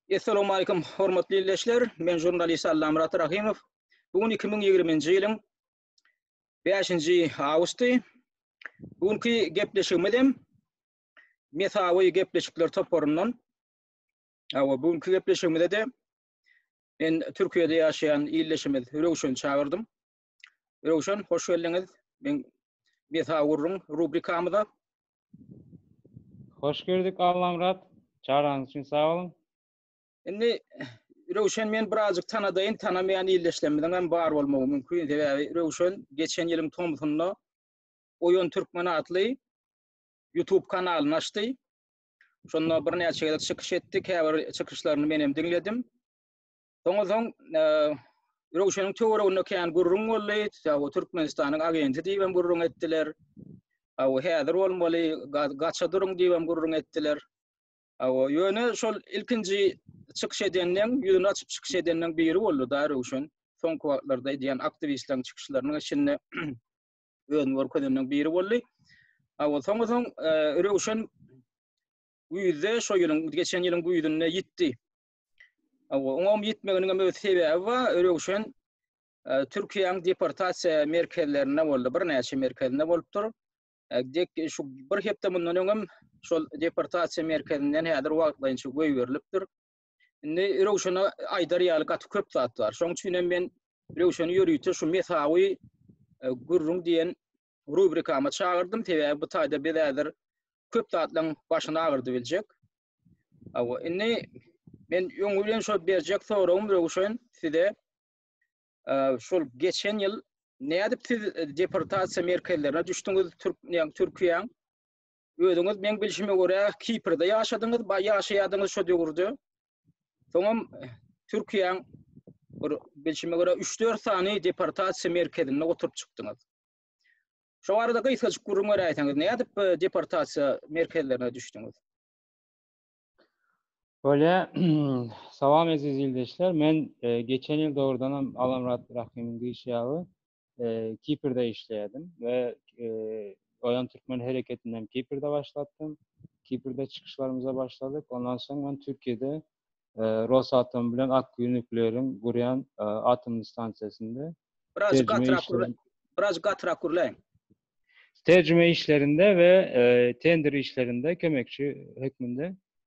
Essalamu aýkum, hormatly ildeşler. Men žurnalist Allamyrat Rahymow. Bu gün 2020-nji ýylyň 5-nji awgusty. Bu günki gepleşigimiz hem Mesawy gepleşikler toparyndan. Awa, bu günki gepleşigimizde de men Türkiýede ýaşaýan ildeşimiz Röwşeni çagyrdym. Röwşen, hoş geldiňiz. Men Besa gurruň rubrikamyza. Hoş gördük Allamyrat. Çagyraňyz üçin sag boluň. Indi Röwşen men birazjyk tanadaýyn, tanamaýan ildeşlerimiziň hem bar bolmagy mümkin. Sebäbi Röwşen geçen ýylyň tomsunda Oýun Türkmen atly YouTube kanalyny açdy. Şonda birnäçe gezek çykyş etdi, käbir çykyşlaryny men hem diňledim. Soňa soň Röwşeniň töwereginde kän gürrüň boldy. Ýa-da Türkmenistanyň agenti diýip hem gürrüň etdiler. Aw häzir bolmaly, gaça duruň diýip hem gürrüň etdiler. Aw ýöne şol ilkinji çykyş edenden, ýüzüni açyp çykyş edenden biri boldy da Röwşen. Soňky wagtlarda edýän aktiwistleriň çykyşlarynyň içinde özüni görkezenden biri boldy. Aw soňa soň e, Röwşen güýzde şo ýylyň geçen ýylyň güýzünde ýitdi. Oňa ýetmeginiň hem öz sebäbi bar. Röwşen e, Türkiýäniň deportasiýa merkezlerinde boldy. Birnäçe merkezinde bolupdyr. E, dek şu bir hepde mundan öňem şol deportasiýa merkezinden häzir wagtlaýynça goýberilipdir. Indi Röwşene aýdar ýaly gaty köp zat bar. Şoň üçin hem men Röwşeni ýörite şu mesawy e, gürrüň diýen rubrikama çagyrdym, sebäbi bu taýda biz häzir köp zatlaryň başyny agyrdy biljek. Awa, indi men öň bilen şol berjek soragym Röwşen size e, şol geçen ýyl nädip siz deportasiýa merkezlerine düşdüňiz Türk, Türkiýäň Özüňiz meň bilşime görä Kiprde ýaşadyňyz, baý ýaşaýardyňyz şo döwürde. Soňam Türkiýäň bir bilşime görä 3-4 sany deportasiýa merkezinde oturyp çykdyňyz. Şo barada gysgajyk gürrüň beräýseňiz, nädip bu deportasiýa merkezlerine düşdüňiz? Bolýa, salam eziz ildeşler. Men e, geçen ýyl dogrudanam Alamrat Rahymyň diýişi ýaly Kiprde işleýärdim we Oýan Türkmen hereketini hem Kiprde başlatdym. Kiprde çykyşlarymyza başladyk. Ondan soň men Türkiýede Rosatom bilen Akkuýu nukleariň gurýan atomly stansiýasynda Biraz gatyrak gürläň. Biraz gatyrak gürläň. Terjime işlerinde we tender işlerinde kömekçi hökmünde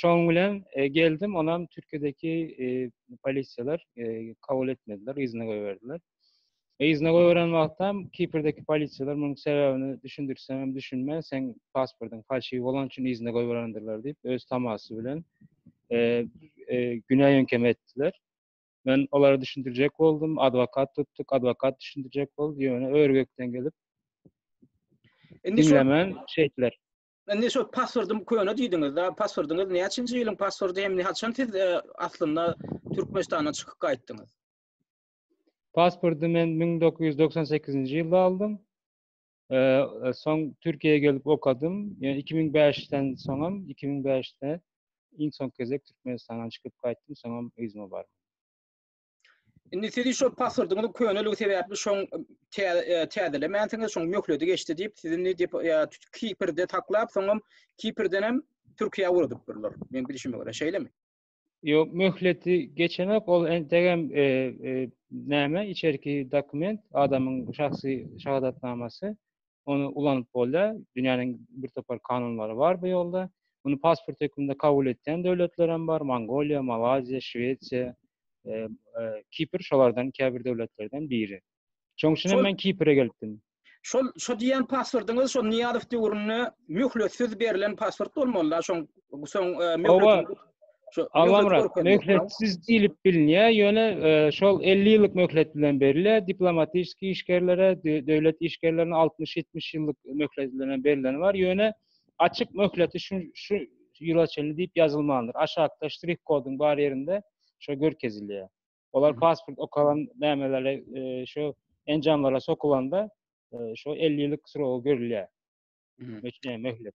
Şoň bilen geldim, onam Türkiýedeki polisiýalar kabul etmediler, yzyna goýberdiler. Yzyna goýberen wagtam Kipr'deki polisiýalar munuň sebäbini düşündirseňem düşünme, seň pasportyň falşiw bolan üçin yzyna goýberendirler diýip, öz tamasy bilen günä ýeňkeme etdiler. Men olara düşündirjek boldum, adwokat tutduk, adwokat düşündirjek boldy, ýöne ör-gökden gelip, diňlemän şeýtdiler. Indi şu pasportym köne diýdiňiz-de, pasportyňyz näçinji ýylyň pasporty hem haçan siz e, aslynda Türkmenistandan çykyp gaýtdyňyz? Pasporty men 1998-nji ýylda aldym. E, e, soň Türkiýä gelip okadym. Ýöne 2005-den soňam 2005-de iň soňky gezek Türkmenistandan çykyp gaýtdym, soňam yzyma bardym. Indi sizi şol paswordunuz köneligi sebäpli şoň täzelemänsiniz, şoň möhledi geçdi diýip, sizi diýip Kiprde taklap, soňam Kiprden hem Türkiýä ugradyp durlar. Men bilişime görä, şeýlemi? Ýok, möhleti geçenok, ol entegem e, e, näme, içerki dokument, adamyň şahsy şahadatnamasy. ony ulanyp bolýar. Dünýäniň birtopar kanunlary bar bu ýolda. Muny pasport hökmünde kabul etýän döwletler hem bar, Mongoliýa, Malaýziýa, Şwesiýa, Kipr şolardan käbir döwletlerden biri. Şoň üçin hem men Kipre gelipdim. Şol şo diýýän pasportyňyz şo Nyýazow döwründe möhletsiz berlen pasport bolmaly-da, şoň soň möhletiniň. Hawa, Şu Agamrat möhletsiz diýlip bilinýär, ýöne e, şol 50 ýyllyk möhlet bilen berilýär. Diplomatik işgärlere, döwlet işgärlerine 60-70 ýyllyk möhlet bilen berileni bar. Ýöne açyk möhleti şu şu ýyla çenli diýip ýazylmandyr. Aşakda ştrih koduň bar ýerinde şo görkezilýär. Olar pasport okalan nämelere e, şo enjamlara sokulanda e, şo 50 ýyllyk srogy görülýär. Üçe möhlet.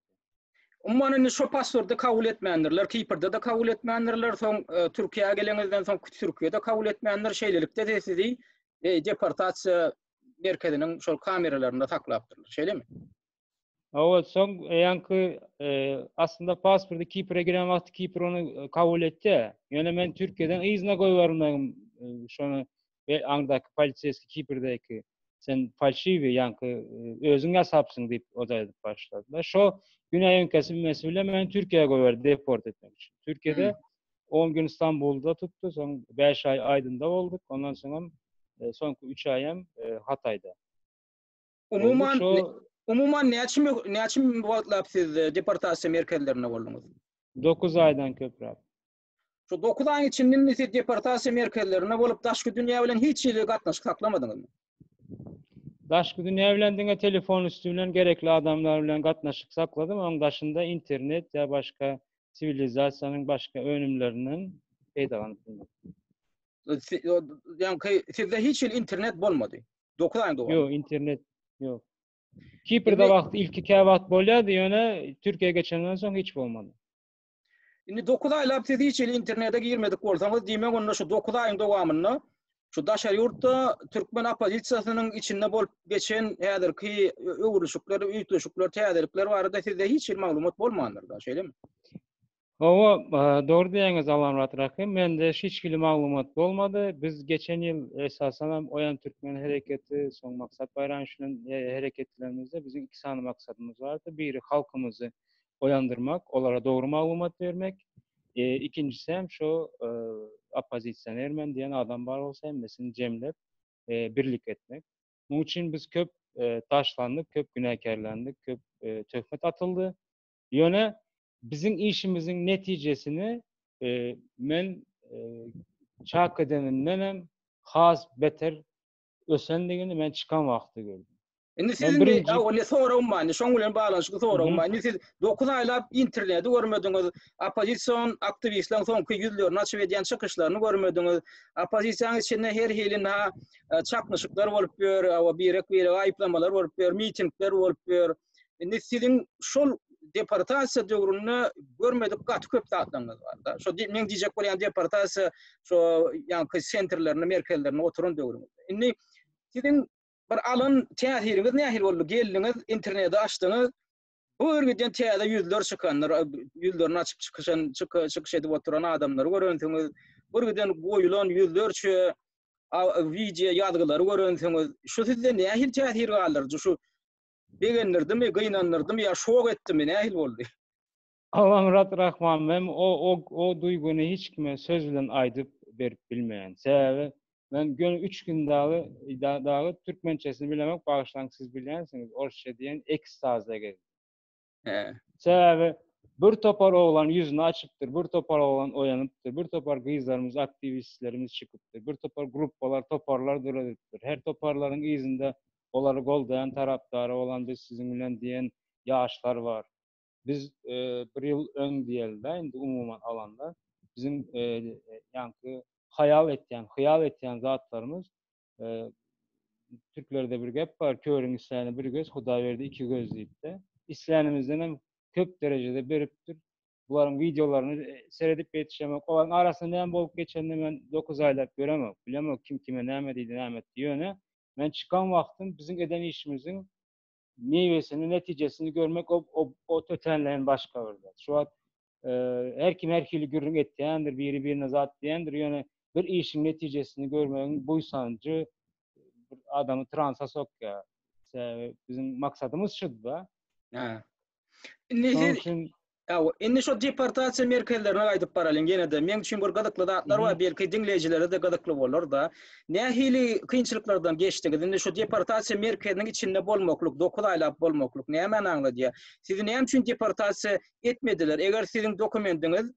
Umman indi şu passwordy kabul etmändirler. Kiprde de kabul etmändirler. Soň e, Türkiýä gelenizden soň Türkiýede kabul etmändir. Şeýlelikde de sizi e, deportasiýa merkeziniň şol kameralarynda saklapdyrlar. Şeýlemi? Hawa, soň ýaňky e, aslynda pasporty Kipre giren wagty Kipr ony e, kabul etdi. Ýöne men Türkiýeden yzyna goýbermegim e, şony we aňdaky poliseýski kipirdeki sen falşiwi ýaňky özüň ýasapsyň diýip oda edip başladylar. Şo güne öňkesi mesuly meni Türkiýä goýberdi deport etmek üçin. Türkiýede 10 gün Stambulda tutdy, soň 5 aý Aýdynda bolduk, ondan soňam e, soňky 3 aýam e, Hataýda. Umuman, şo... umuman näçe näçe wagtlap siz e, deportasiýa merkezlerinde bolduňyz? 9 aýdan köpräk. Şu 9 aýyň içinde indi siz deportasiýa merkezlerinde bolup daşky dünýä bilen hiç hili gatnaşyk saklamadyňyzmy? Daşky dünýä bilen diňe telefon üsti bilen gerekli adamlar bilen gatnaşyk sakladym. Oň daşynda internet ýa başga siwilizasiýanyň başga önümlerinden peýdalanyp bilmedim. Ýa-ki sizde hiç hili internet bolmady. 9 aýyň dowamynda. Ýok, internet ýok. Kiprde wagt ilki käwagt bolýardy, ýöne Türkiýä geçenden soň hiç bolmady. Indi 9 aýlap siz hiç hili internete girmedik bolsaňyz, diýmek onda şu 9 aýyň dowamynda şu daşary ýurtda türkmen oppozisiýasynyň içinde bolup geçen häzirki öwrülişikler, üýtgeşikler, täzelikler barada sizde hiç hili maglumat bolmandyr da, şeýlemi? Hawa, dogry diýýäňiz Alamrat Raky, mende hiç hili maglumat bolmady. Biz geçen ýyl esasan hem Oýan türkmen hereketi, soň Maksat Baýramow bilen hereketlerimizde biziň iki sany maksadymyz bardy. Biri halkymyzy oýandyrmak, olara dogry maglumat bermek, ikinjisi hem şu oppozisioner men diýen adam bar bolsa hemmesini jemlep birlik etmek. Munuň üçin biz köp taşlandyk, köp günäkärlendik, köp töhmet atyldy. Ýöne biziň işimiziň netijesini men çak edenimden hem has beter ösendigini men çykan wagtda gördüm. Indi siz indi awal ne soragym bar, indi şoň bilen baglanyşykly soragym bar. Indi siz dokuz aýlap interneti görmediňiz, oppozision aktiwistleriň soňky ýüzlerini açyp edýän çykyşlaryny görmediňiz, oppozisiýanyň içinde her hili na çaknyşyklar bolup ýör, birek-birege aýyplamalar bolup ýör, mitingler bolup ýör. Indi siziň şol deportasiýa döwründe görmedik gaty köp zatlaryňyz bar da. Şo men diýjek bolýan deportasiýa şo ýaňky sentrlerinde, merkezlerinde oturan döwrüňiz. Indi siziň bir alan täsiriňiz nähili boldy? Geldiňiz, interneti açdyňyz. Bu ýerden täze ýüzler çykandyr, ýüzlerini açyp çykyşan, çykyş edip oturan adamlary görensiňiz. Bu ýerden goýulan ýüzlerçe wideo ýazgylary görensiňiz. Şu sizde nähili täsir galdyrdy? Şu Begendirdimi, gynandyrdym ýa şok etdimi, nähili boldy? Awaňrat Rahman men o duýgyny hiç kime söz bilen aýdyp berip bilmeýän. Sebäbi men göni üç gün dagy dagy türkmençesini bilemok, bagyşlaň siz bilýänsiňiz, orsça diýen ekstazda gezdim. Sebäbi bir topar oglan ýüzüni açypdyr, bir topar oglan oýanypdyr, bir topar gyzlarymyz, aktiwistlerimiz çykypdyr, bir topar gruppalar, toparlar döredilipdir. Her toparlaryň yzynda olary goldaýan tarapdary bolan biz siziň bilen diýen ýaşlar bar. Biz bir ýyl öň diýeli-de indi umuman alanda biziň ýaňky haýal etýän, hyýal etýän zatlarymyz Türklerde bir gep bar, körüň isläni bir göz, Hudaý berdi iki göz diýip-de. Islänimizden hem köp derejede beripdir. Bularyň wideolaryny e, seredip ýetişemok. Olaryň arasynda näme bolup geçenini men dokuz aýlap göremok, bilemok kim kime näme diýdi, näme etdi. Ýöne men çykan wagtym biziň eden işimiziň Miwesini, netijesini görmek o-o-o tötänleýin başga bir zat. Şu wagt her kim her hili gürrüň etýändir, biri-birine zat diýendir, ýöne bir işiň netijesini görmegiň buýsanjy adamy transa sokýar. Sebäbi biziň maksadymyz şudy-da. Indi siz Ýa, indi şu deportasiýa merkezlerine gaýdyp baralyň ýene-de. Meň üçin bir gyzykly zatlar bar, belki diňleýjilere-de gyzykly bolar-da. Nähili kynçylyklardan geçdiňiz? Indi şu deportasiýa merkeziniň içinde bolmaklyk, dokuz aýlap bolmaklyk nämäni aňladýar? Sizi näme üçin deportasiýa etmediler? Eger siziň dokumendiňiz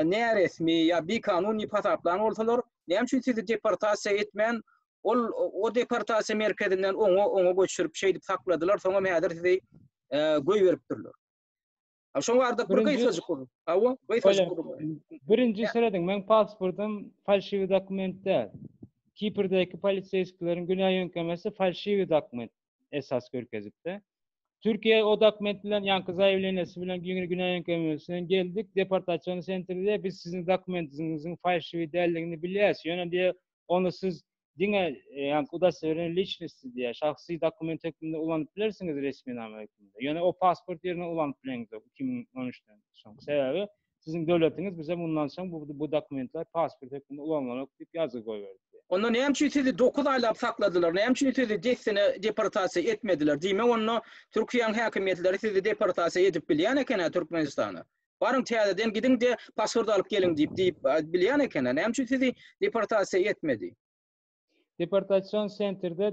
näresmi ýa bikanun diýip hasaplan bolsalar, näme üçin sizi deportasiýa etmän, Ol o deportasiýa merkezinden oňa oňa göçürip şeýdip sakladylar soňam häzir sizi goýberipdirler. A şoň ardyk bir gysgajyk ur. Awa, gysgajyk ur. Birinji syradiň men pasportym falşiwi dokument däl. Kiprdaky polisiýskileriň günä ýöňkemesi falşiwi dokument esas görkezipdi. Türkiýe o dokument bilen ýaňky zaýewleniýasy bilen günä günä ýöňkemesi bilen geldik, deportasiýony sentrde biz siziň dokumentiňiziň falşiwi däldigini bilýäs. Ýöne diýe ony siz diňe ýa-da udastowereniý liçnosti diýýär, şahsy dokument hökmünde ulanyp bilersiňiz, resminama hökmünde. Ýöne o pasport ýerine ulanyp bileňizok iki müň on üçden soň. Sebäbi siziň döwletiňiz bize mundan soň bu bu dokumentler pasport hökmünde ulanlanok diýip ýazgy goýberipdi. Onda näme üçin sizi dokuz aýlap sakladylar? Näme üçin sizi dessine deportasiýa etmediler? Diýmek onda Türkiýäň häkimiýetleri sizi deportasiýa edip bilýän eken-ä Türkmenistana. Baryň täzeden gidiň-de, pasport alyp geliň diýip diýip bilýän eken-ä. Näme üçin sizi deportasiýa etmedi? Deportasion sentrde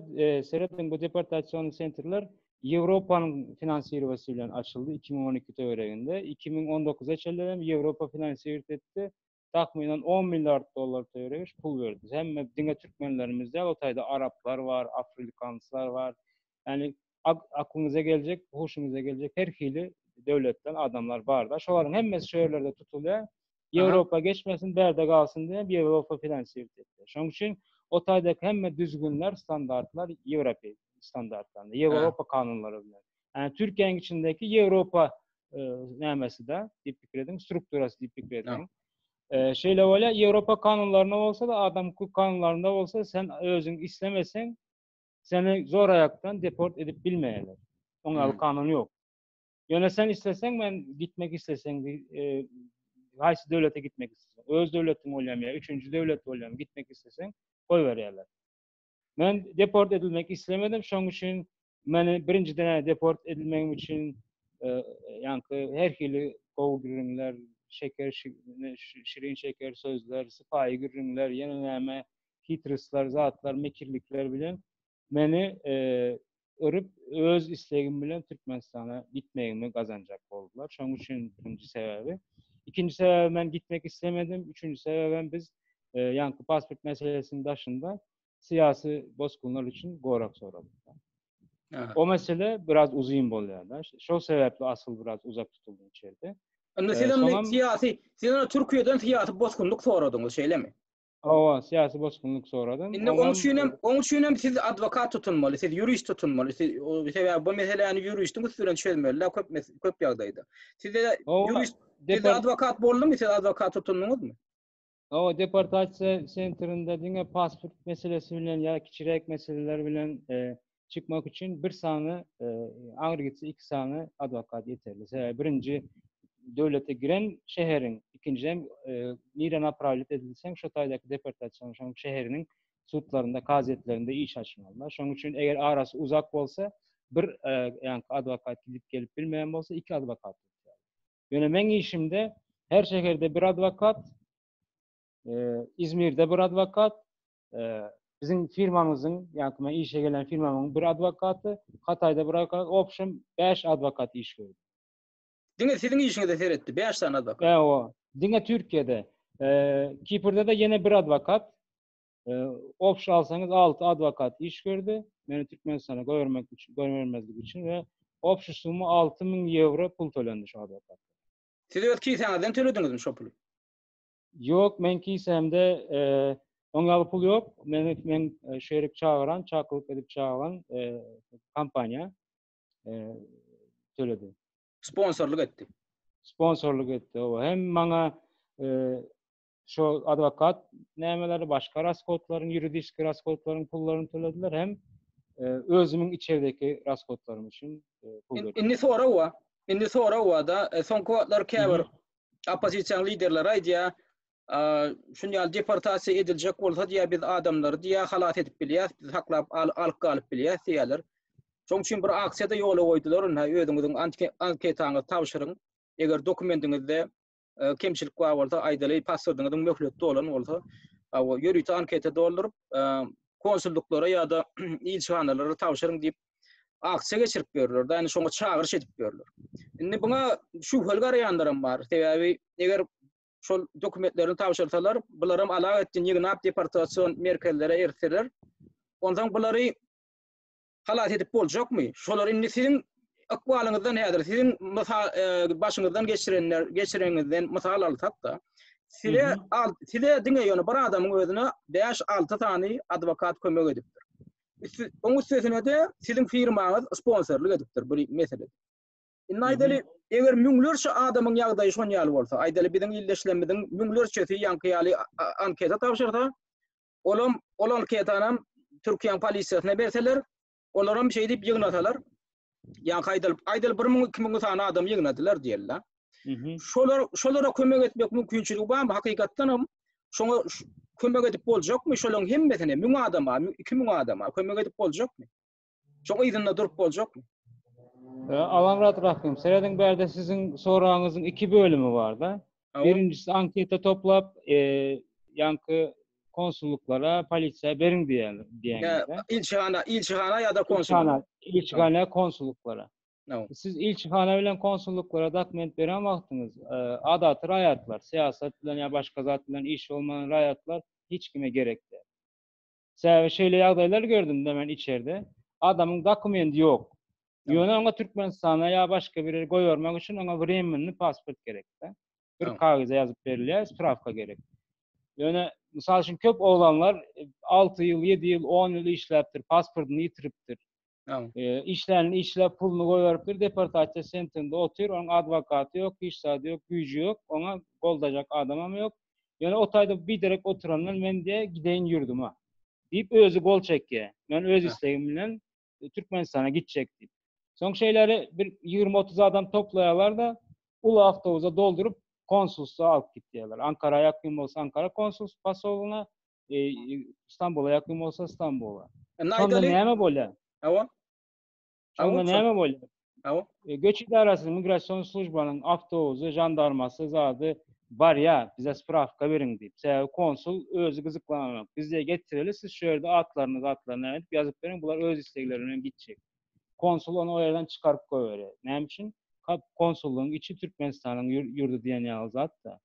serediň bu deportasion sentrler Ýewropanyň finansirowasy bilen açyldy iki müň on iki töwereginde. Iki müň on dokuza çenli hem Ýewropa finansirowt etdi. takmynan on milliard dollar töweregis pul berdi. Hemme diňe türkmenlerimiz däl, o taýda araplar bar, afrikanslar bar. Ýani aklyňyza geljek, huşuňyza geljek her hili döwletden adamlar bar-da. Şolaryň hemmesi şu ýerlerde tutulýar. Ýewropa geçmesin, bärde galsyn diýip, Ýewropa finansirowat etdi. Şonuň üçin o taýdaky hemme düzgünler, standartlar ýewropeýsk standartlaryna, ýewropa kanunlary bilen. Yani Türkiye'nin içindeki Yevropa e, nämesi de diýip pikir ediň, strukturasy diýip pikir ediň. E, şeýle bolýar, Ýewropa kanunlaryna bolsa da, adam hukuk kanunlarynda bolsa sen özüň islemeseň, seni zor aýakdan deport edip bilmeýärler. Oňa hmm. kanun ýok. Ýöne sen isleseň, men gitmek isleseň, e, haýsy döwlete gitmek isleseň, öz döwletiň bolýarmy ýa üçünji döwlet bolýarmy, gitmek isleseň, goýberýärler. Men deport edilmek islemedim, şoň üçin meni birinjiden deport edilmegim üçin e, ýaňky her hili gowy gürrüňler, şeker şirin şeker sözler, sypaýy gürrüňler, ýene näme, hitristler, zatlar, mekirlikler bilen meni e, örüp, öz islegim bilen Türkmenistana gitmegimi gazanjak boldular. Şoň üçin birinji sebäbi. Ikinji sebäbi men gitmek islemedim. Üçünji sebäbem biz e, ýaňky pasport meselesiniň daşynda syýasy bosgunlar üçin gorak soradyk. O mesele biraz uzun bolýar da. Şol sebäpli asyl biraz uzak tutuldym içeride. Indi siz e, indi siyasi, siz indi Türkiye'den siyasi bozkunluk soradyňyz, şeýlemi? Hawa, syýasy bosgunlyk soradym. Indi onuň üçin hem, onuň üçin hem siz adwokat tutunmaly, siz ýurist tutunmaly. Siz sebäbi bu meseläni ýuristiň üsti bilen çözmeli däl köp mes, köp ýagdaýda. Sizde ýurist, sizde adwokat boldumy, siz adwokat tutundyňyzmy? Hawa, deportasiýa sentrinde diňe pasport meselesi bilen ýa kiçiräk meseleler bilen çykmak üçin bir sany aňry gitse iki sany adwokat ýeterli. Sebäbi birinji döwlete giren şäheriň, ikinji hem nirä naprawlýet edilseň şo taýdaky deportasiýa şoň şäheriniň sudlarynda, kazyýetlerinde iş açmaly. Şoň üçin eger arasy uzak bolsa, bir ýa adwokat gidip gelip bilmeýän bolsa, iki adwokat. Ýöne meň işimde her şäherde bir adwokat, Izmirde bir adwokat, Biziň firmamyzyň, ýa-da men işe gelen firmamyň bir adwokaty, Hataýda bir adwokat, opşem bäş adwokat iş gördi. Diňe siziň işiňize seretdi, bäş sany adwokat. Ewa, diňe Türkiýede. Kiprde-de ýene bir adwokat, opş alsaňyz alty adwokat iş gördi. Meni Türkmenistana goýbermek üçin, goýbermezlik üçin we opş summa alty müň ýewro pul tölendi şu adwokata. Siz öz kisäňizden tölediňizmi şo puly? Ýok, meň kisemde oň ýaly pul ýok. Meni men şerik çagyran, çakylyk edip çagyran kompaniýa töledi. Sponsorlyk etdi. Sponsorlyk etdi, owa. Hem maňa şo adwokat nämeleri, başga rashodlaryň, ýuridiski rashodlaryň pullaryny tölediler, hem özümiň içerdeki rashodlarym üçin pul berdiler. Indi sorag bar. Indi sorag bar-da, soňky wagtlar käbir oppozisiýa liderleri aýdýar, şuny ýaly deportasiýa ediljek bolsa diýýär, biz adamlary diýýär, halas edip bilýäs, biz saklap alyp galyp bilýäs diýýärler. Şoň üçin bir aksiýa-da ýola goýdular, ynha özüňiziň anketaňyzy tabşyryň, eger dokumendiňizde e, kemçilik bar bolsa, aýdaly pasportyňyzyň möhleti dolan bolsa, ýörite anketa dolduryp, e, konsulluklara ýa-da ilçihanalara tabşyryň diýip akçe geçirip görler da şoňa çagyryş edip görler indi buna şu hol garaýanlaram bar sebäbi eger şol dokumentlerini tabşyrsalar bularam alag etdi ýygnap deportasiýon merkezlere ertirler ondan bulary halas edip boljakmy şolar indi siziň ykbalyňyzdan häzir siziň mysal e, başyňyzdan geçirenler geçireňizden mysal alsak da size al size diňe ýöne bir adamyň özüne 5-6 sany adwokat kömek edipdir. Oň üstesine-de siziň firmaňyz sponsorlyk edipdir bu meselede. Indi aýdaly, eger müňlerçe adamyň ýagdaýy şon ýaly bolsa, aýdaly biziň ildeşlerimiziň müňlerçesi ýaňky ýaly anketa tabşyrsa, olam ol anketany türkiýäň polisiýasyna berseler, olaram şeýdip ýygnasalar, ýa-ha aýdalyp, aýdalyp bir müň, iki müň sany adam ýygnadylar diýeli-de. Şolar, şolara kömek etmek mümkinçiligi barmy? Hakykatdan hem şoňa kömek edip boljakmy? Şolaryň hemmesine müň adama, iki müň adama kömek edip boljakmy? Şoň yzynda durup boljakmy? Alamrat Rahym, serediň bärde siziň soragyňyzyň iki bölümi bar-da. Birinjisi anketa toplap, ýaňky konsullyklara, polisiýa beriň diýýärler, diýýärler. Ilçihana, ilçihana ýa-da konsullyklara. Ilçihana, konsullyklara. Siz ilçihana bilen konsullyklara dokument beren wagtyňyz, adaty raýatlar, syýasat bilen ýa başga zat bilen işi bolmaýan raýatlar hiç kime gerek däl. Sebäbi şeýle ýagdaýlar gördüm-de men içerde. Adamyň dokumendy ýok. Ýöne oňa Türkmenistana ýa başga bir ýere goýbermek üçin oňa wremennyý pasport gerek-de. Bir kagyza ýazyp berilýär, sprawka gerek. Ýöne, mysal üçin, köp oglanlar alty ýyl, ýedi ýyl, on ýyl işläpdir, pasportyny ýitiripdir. Ýa. Işlänini işläp, puluny goýberipdir, deportasiýa sentinde otyr, onuň adwokaty ýok, hiç zady ýok, güýji ýok, oňa goldajak adamam ýok. Ýöne o taýda biderek oturandan men diýe gideýin ýurduma. Diýip özi gol çekýä. Men öz islegim bilen Türkmenistana gitjek diýip. Soň şeýlery bir ýigrimi otuz adam toplaýarlar-da, uly awtobusa dolduryp konsulstwa alyp gitýärler. Ankara ýakyn bolsa Ankara konsulstw posolyna, E, İstanbul'a yakın olsa İstanbul'a. E, Şonda Naydali. näme bolýar? Awa. Şonda Awa, näme bolýar? Awa. E, Göç idarasynyň migration slujbanyň awtobuzy, jandarmasy zady barýar. Bize spravka beriň diýip. Sebäbi konsul özi gyzyklananok. Bizde getireli siz şu ýerde atlaryny zatlaryny nädip ýazyp beriň. Bular öz islegleri bilen gitjek. Konsul ony o ýerden çykaryp goýberýär. Näme üçin? Kap konsullygyň içi Türkmenistanyň ýur- ýurdy diýen ýaly zat-da.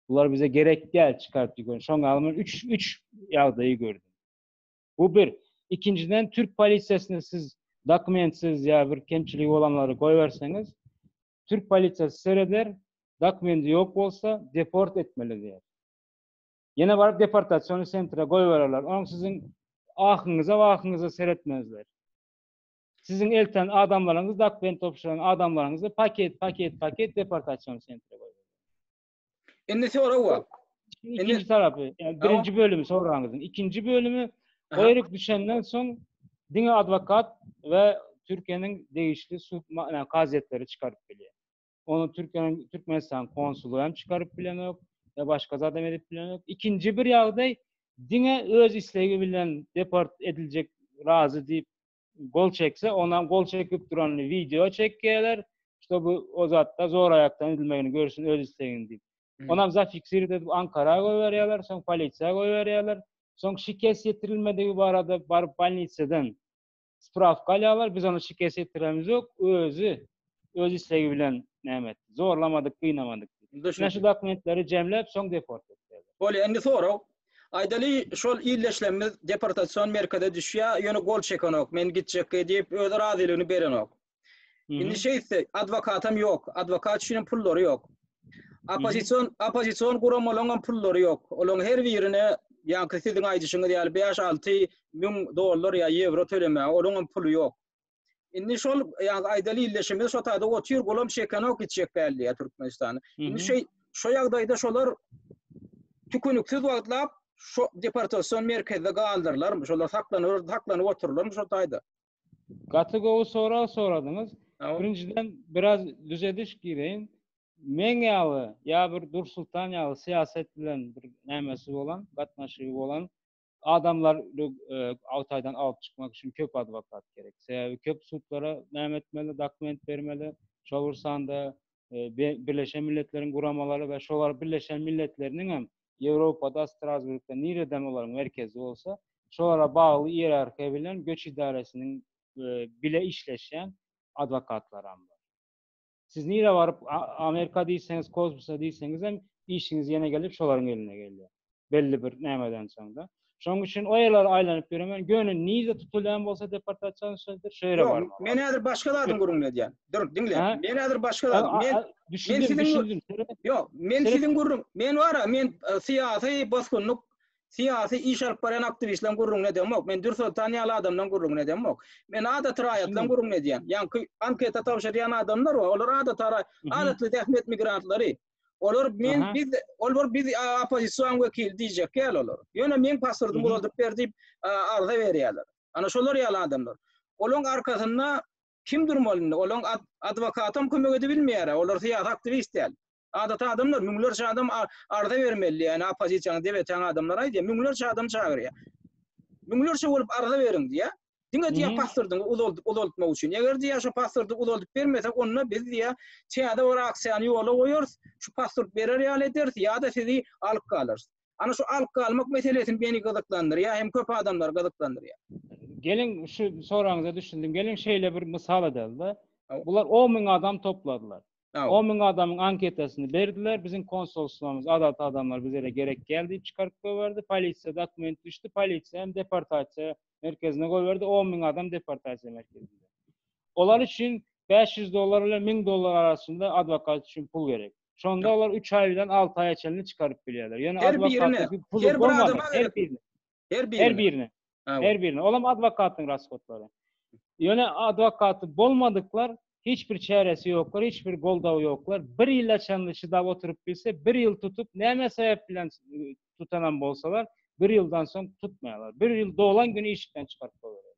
Bular bize gerek däl çykaryp ýüren. Şoňa men üç üç ýagdaýy gördüm. Bu bir. Ikinjiden türk polisiýasyna siz dokumentsiz ýa bir kemçiligi bolanlary goýberseňiz, türk polisiýasy sereder, dokumenti ýok bolsa deport etmeli diýer. Ýene baryp deportasiýony sentre goýbererler. Onuň siziň ahyňyza wahyňyza seretmezler. Siziň elten adamlaryňyz dokument topşuran adamlaryňyzy paket paket paket deportasiýony sentre goýberler. Indi sorag bar. Ikinji tarapy, yani birinci bölümü soraňyzyn. İkinci bölümü goýup düşenden soň diňe advokat we Türkiýäniň degişli sud yani kazyýetleri çykaryp bilýär. Onu Türkiýäniň Türkmenistan konsuly hem çykaryp bilenok we başga zat hem edip bilenok. İkinji bir ýagdaý diňe öz islegi bilen deport ediljek razy diýip gol çekse onam gol çekip duran video çekýärler işte bu o zatda zor aýakdan edilmegini görüşün öz istegini diýip onam zafiksirip edip ankara goýberýärler soň polisiýa goýberýärler soň şikes ýetirilmedigi barada baryp bolnisadan spravka alýarlar biz ony şikes ýetirenimiz ýok özi öz islegi bilen näme etdi? Zorlamadyk, gynamadyk. Ine şu dokumentleri jemläp, soň deport etdiler. Bolýa, indi sorag. Aýdaly, şol ildeşlerimiz deportasion merkeze düşýär, ýöne gol çekenok, men gitjekge diýip, öz razylygyny berenok. Indi şeýtse, adwokatam ýok, adwokat üçinem pullary ýok. Oppozision, oppozision guramalaryňam pullary ýok. Olaryň her birine, ýaňky siziň aýdyşyňyz ýaly, bäş-alty müň dollar ýa ýewro tölemäge olaryňam puly ýok. Indi şol ýaňky aýdaly illeşime şo taýda otyr golam şekenok içjek däl diýä Türkmenistan. Indi şeý şo ýagdaýda şolar tükünüksiz wagtlap şo deportasion merkezde galdyrylar, şolar saklanylar, saklanyp oturlar şo taýda. Gaty gowy sorag soradyňyz. Birinjiden biraz düzediş gireýin. Meň ýaly ýa bir Dursultan ýaly syýasat bilen bir nämesi bolan, gatnaşygy bolan Adamlar Agtaýdan alyp çykmak üçin köp adwokat gerek. Sebäbi köp sudlara näme etmeli, dokument bermeli. Şol bir sanda Birleşen Milletleriň guramalary we şolar Birleşen Milletleriniň hem Ýewropada, Strasburgda nireden olaryň merkezi bolsa, şolara bagly iýerarhiýa bilen göç idaresiniň bile işleşýän adwokatlaram bar. Siz nirä baryp, Amerika diýseňiz, kosmosa diýseňiz hem işiňiz ýene gelip şolaryň eline gelýär. Belli bir nämeden soň-da. Şonuň üçin o ýerlere aýlanyp ýöremen, ýöne nirede tutulýan bolsa deportasiýa şeýledir, şo ýere barmaly. Ýok, men häzir başga zadyň gürrüňini edýän. Dur, diňle. Men häzir başga zadyň. Men düşündim, düşündim. Ýok, men siziň gürrüň, men bar-a, men e, syýasy bosgunlyk Syýasy iş alyp barýan aktiwistleriň gürrüňini edemok. Men Dürsoltan ýaly adamlaryň gürrüňini edemok. Men adaty raýatlaryň gürrüňini edýän. Ýaňky anketa tabşyrýan adamlar bar. Olar adaty ara, adaty zähmet migrantlary. Olar men biz olar biz oppozision wekili diýjek ýaly olar. Ýöne meň pasportymy uzaldyp ber diýip arza berýärler. Ana şolar ýaly adamlar. Olaryň arkasynda kim durmaly indi? Olaryň adwokatam kömek edibilmeýär. Olar syýasy aktiwist däl. Adaty adamlar müňlerçe adam arza bermeli, ýani oppozisiýany dep etan adamlar aýdýar, müňlerçe adam çagyrýar. Müňlerçe bolup arza beriň diýýär. Diňe diýýär hmm. pasportyňy uzaldyp uzaltmak üçin. Eger diýýär şu pasporty uzaldyp bermesek, onda biz diýýär täze bir aksiýany ýola goýarys, şu pasport berer ýaly ederis ýa-da sizi alyp galarys. Ana şu alyp galmak meselesi meni gyzyklandyrýar, hem köp adamlar gyzyklandyrýar. Geliň şu soragyňyza düşündim. Geliň şeýle bir mysal edelim-de. Bular 10 müň adam topladylar. On müň adamyň anketasyny berdiler. Biziň konsulstwomyz adaty adamlar bizede gerek däl diýip çykaryp goýberdi. Polisiýa dokument düşdi. Polisiýa hem deportasiýa merkezine goýberdi. On müň adam deportasiýa merkezinde. Olar üçin bäş ýüz dollar bilen müň dollar arasynda adwokat üçin pul gerek. Şonda olar üç aý bilen alty aýa çenli çykaryp bilýärler. Ýöne adwokata pul bolmasa, her birine. Her birine. Her birine. Her birine. Olam adwokatyň rashodlary. Ýöne adwokaty bolmadyklar hiç bir çäresi ýoklar, hiç bir goldawy ýoklar. Bir ýyla çenli çydap oturyp bilse, bir ýyl tutup, näme sebäp bilen tutanam bolsalar, bir ýyldan soň tutmaýarlar. Bir ýyl dolan güni işikden çykaryp goýberýärler.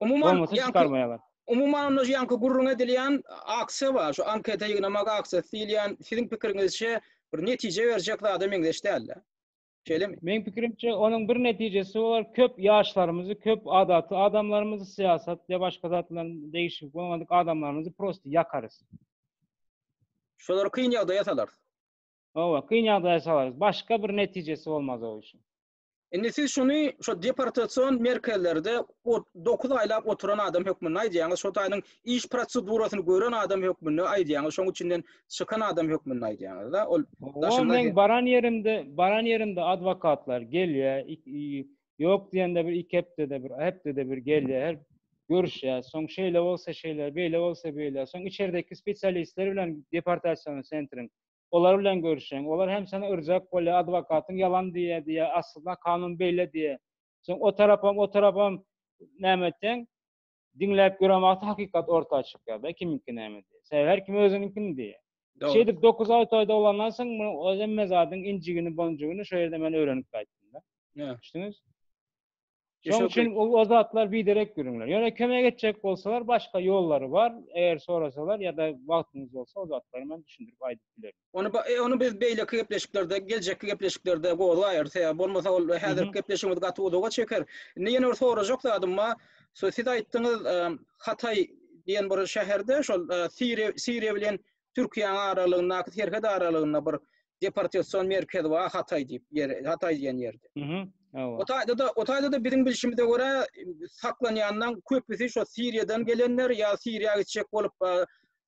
Umuman, Bolmasa ýaňky- çykarmaýarlar. Umuman onda şu ýaňky gürrüň edilýän aksiýa bar. Şu anketa ýygnamak aksiýasy diýilýän, siziň pikiriňizçe, bir netije berjek zada meňzeş däl-de. Şeýlemi? Meň pikirimçe, onuň bir netijesi bolar, köp ýaşlarymyzy, köp adaty adamlarymyzy, syýasat ýa başga zat bilen degişip bolmadyk adamlarymyzy prosto ýakarys. Şolary kyn ýagdaýa salarys. Hawa, kyn ýagdaýa salarys. Başga bir netijesi bolmaz o işiň. Indi siz şuny şu deportasion merkezlerde ot dokuz aýlap oturan adam hökmünde aýdýaňyz, şo taýynyň iş prosedurasyny gören adam hökmünde aýdýaňyz, şoň üçinden çykan adam hökmünde aýdýaňyz-da, ol daşynda Ol men baran ýerimde, baran ýerimde adwokatlar gelýär, ýok diýende bir iki hepdede bir, hepdede bir gelýär, görüşýär, soň şeýle bolsa şeýle, beýle bolsa beýle, soň içerdeki spesialistler bilen deportasion sentriň Olar bilen görüşeň. Olar hem seni yrjak bolýar, adwokatyň ýalan diýýär diýýär, aslynda kanun beýle diýýär. Soň o tarapam, o tarapam näme etseň, diňläp ýören wagty hakykat orta çykýar da kimiňki näme diýip. Sebäbi her kim özüniňkini diýýär. Dogry. Şeýdip dokuz aý toýda bolandan soň munuň hemme zadyň injigini-bonjugini şo ýerde men öwrenip gaýtdym-da. Ýa. Düşdüňiz? Şoň üçin o zatlar biderek ýörüňler. Ýöne kömek etjek bolsalar, başga ýollary bar. Eger sorasalar ýa-da wagtyňyz bolsa, o zatlary men düşündirip aýdyp bilerin. Ony ony biz beýleki gepleşiklerde, geljekki gepleşiklerde gozgaýarys. Eger bolmasa ol häzirki gepleşigimiz gaty uzaga çeker. Indi ýene bir sorajak zadym bar. Siz aýtdyňyz, Hataý diýen bir şäherde şol Siriýa, Siriýa bilen Türkiýäň aralygyndaky serhet aralygynda bir deportasion merkez bar Hatay diýip ýer Hatay diýen ýerde. Mhm. Hawa. O taýda da o taýda da biziň bilşimize görä saklanýanlaryň köpüsi şo Siriýadan gelenler ýa Siriýa gitjek bolup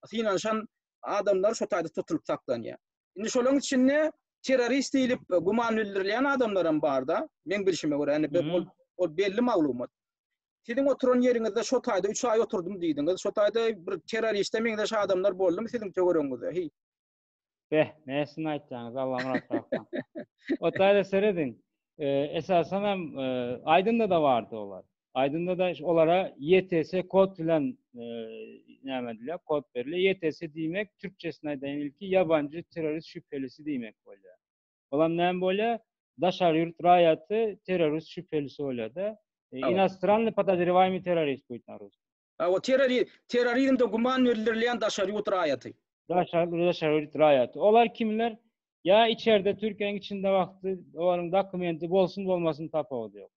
synanyşan adamlar şo taýda tutulyp saklanýar. Indi şolaryň içinde terrorist diýlip güman bildirilýän adamlar hem barda. Meň bilşime görä, indi ol belli maglumat. Siziň oturan ýeriňizde şo taýda üç aý oturdym diýdiňiz. Şo taýda bir terroriste meňzeş adamlar boldumy siziň töweregiňizde? Heý. Beh, näsini aýtýaňyz, Allamyrat kaka. O taýda serediň. Esasan hem Aýdynda-da bardy olar. Aýdynda-da olara YTS kod bilen näme edilýär, kod berilýär. YTS diýmek, türkçesini aýdaýyn ilki, ýabanjy terrorist şübhelisi diýmek bolýar. Olam näme bolýa? Daşary ýurt raýaty terrorist şübhelisi bolýada. Inostranny podozrewaýmy terrorist buýt na rus. A o terrori terrorizmde güman bildirilýän daşary ýurt raýaty. Daşary daşary ýurt raýaty. Olar kimler? Ýa içerde Türkiýäniň içinde wagty olaryň dokumenti bolsun bolmasyn tapawudy ýok.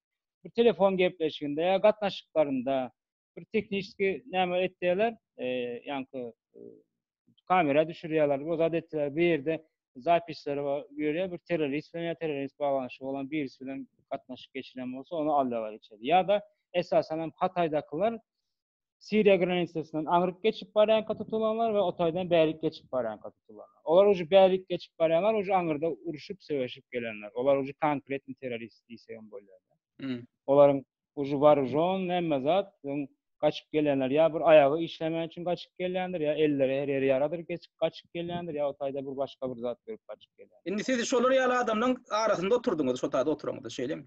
Bir telefon gepleşiginde ýa gatnaşyklarynda bir tehnişki näme etdiler, e, ýanky e, kamera düşürýärler, bu zat etdiler, bir ýerde zapisleri bar, ýöne bir terrorist bilen ýa terrorist baglanyşy bolan birisi bilen gatnaşyk geçiren bolsa, ony alýarlar içeri. Ýa-da esasan hem Hataýdakylar Siriýa granisasynyň aňryk geçip barýan tutulanlar we Otaýdan bärik geçip barýan tutulanlar. Olar uji bärik geçip barýanlar, uji aňyrda uruşyp, söweşip gelenler. Olar uji konkretni terrorist diýsegem bolýar. Hmm. Olaryň Ujy bar ujon näme zat öň gaçyp gelýänler ýa bir aýagy işlemän üçin gaçyp gelýändir ýa elleri her ýeri ýaradyr geçip gaçyp gelýändir ýa o taýda bir başga bir zat görüp gaçyp gelýändir. Indi siz şolar ýaly adamlaň arasynda oturdyňyz şo taýda oturanňyzda şeýlemi?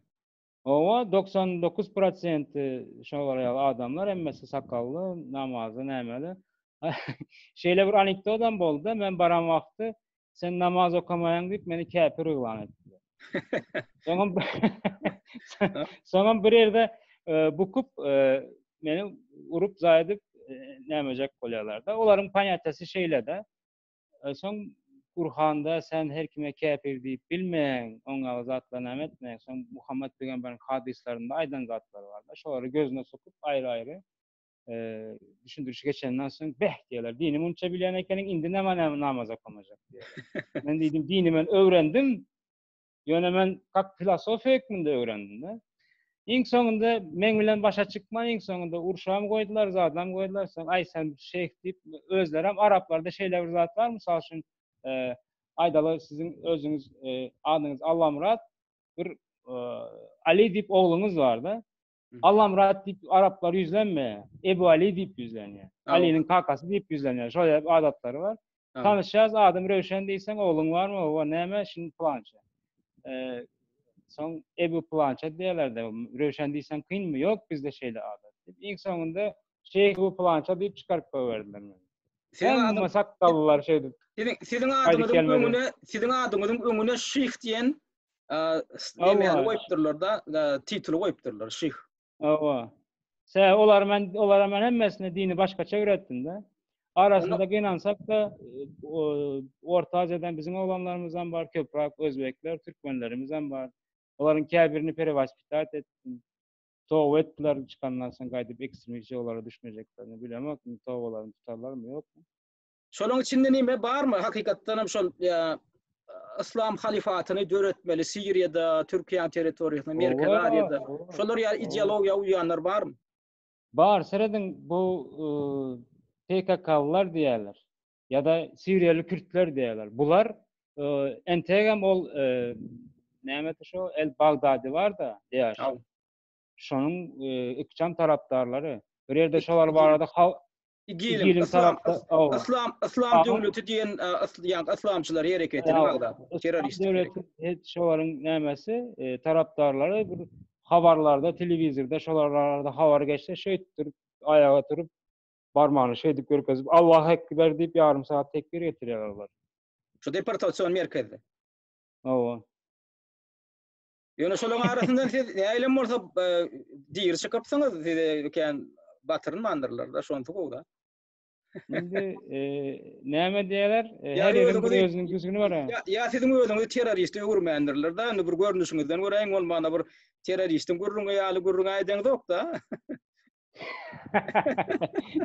Owa doksan dokuz prosenti şolar ýaly adamlar hemmesi sakally namazly nämeli şeýle bir anikdodam boldy men baran wagty Sen namaz okamaýaň diýip meni käpir yglan etdiler. Soňam soňam bir ýerde e, bukup e, meni urup zaýdyp e, nämejek bolýarlar-da. Olaryň panýatýasy şeýle-de. Soň Gurhanda sen her kime käpir diýip bilmeň, oň ýaly zatlar näme etmeň. Soň Muhammed pygamberiň hadyslarynda aýdan zatlar bar-da. Şolary gözüne sokup aýry-aýry düşündürişi geçenden soň beh diýerler. Dini munça bilýän ekeniň, indi näme näme namaz okamajak diýýär. men diýdim, dini men öwrendim. Ýöne men kak filosofiýa hökmünde öwrendim-de. Iň soňunda men bilen başa çykma, iň soňunda urşam goýdular, zadam goýdular. Soň aý sen şeýh diýip özleri hem araplarda şeýle bir zat bar, mysal üçin, e, aýdaly siziň özüňiz e, adyňyz Allamyrat, bir e, Ali diýip ogluňyz bar-da. Allamyrat diýip araplar ýüzlenme, Ebu Ali diýip ýüzlenýär. Aliniň kakasy diýip ýüzlenýär. Şol ýaly adatlary bar. Tanyşýas, adym Röwşen diýseň, ogluň barmy? Hawa, näme? Şindi pylança. Soň Ebu pylança diýerler-de, Röwşen diýseň kynmy? Ýok, bizde şeýle adat. Iň soňunda Şeýh Ebu pylança diýip çykaryp goýberdiler meni. Siziň adyňyz sakgallylar şeýdip. Siziň adyňyzyň öňüne, siziň adyňyzyň öňüne Şeýh diýen Eee, ne goýupdyrlar da, tituly goýupdyrlar, şyh. Awa. Sä, olar men, olara men hemmesini dini başgaça öwretdim da. Arasynda gynansak da, Orta Aziýadan biziň oglanlarymyz hem bar, köpräk özbekler, türkmenlerimiz hem bar. Olaryň käbirini perewaspitat etdim. Toba etdiler, çykandan soň gaýdyp ekstremistçi ýolara düşmejeklerini bilemok, tobalaryny tutarlarmy, ýokmy? Şonuň içinde näme barmy? Hakykatdan hem şol Islam halifatyny döretmeli Siriýada, Türkiýe territoriýasynda, Merkezi Aziýada. Şolar ýa ideologiýa uýanlar barmy? Bar, serediň bu PKK-lar diýerler. Ýa-da Siriýaly kürtler diýerler. Bular entegem ol näme şu El Bagdadi bar-da, ýaşan. Şonuň ikjam tarapdarlary. Bir ýerde şolar barada Igiliň islam islam islam döwleti diýen ýa-da islamçylar hereketi ýa-da terrorist döwleti hiç şolaryň nämesi e, tarapdarlary bir habarlarda telewizorda şolarda habar geçse şeýtdir aýaga turup barmany şeýdip görkezip Allah ekber diýip ýarym saat tekbir getirýärler. Şu deportasion merkezde. Hawa. Ýöne şolaryň arasyndan siz näilem bolsa e, diri çykypsyňyz, size ökän batyrylmandyrlar-da, şonda gowda. Indi e, näme diýerler? E, her ýeriň bir özüniň güsüni bar. Ýa, ýa siziň özüňizi terrorist öwürmändirler-da, indi bir görnüşiňizden göräýiň, ol mana bir terroristin gürrüňi ýaly gürrüň aýdaňyzok-da.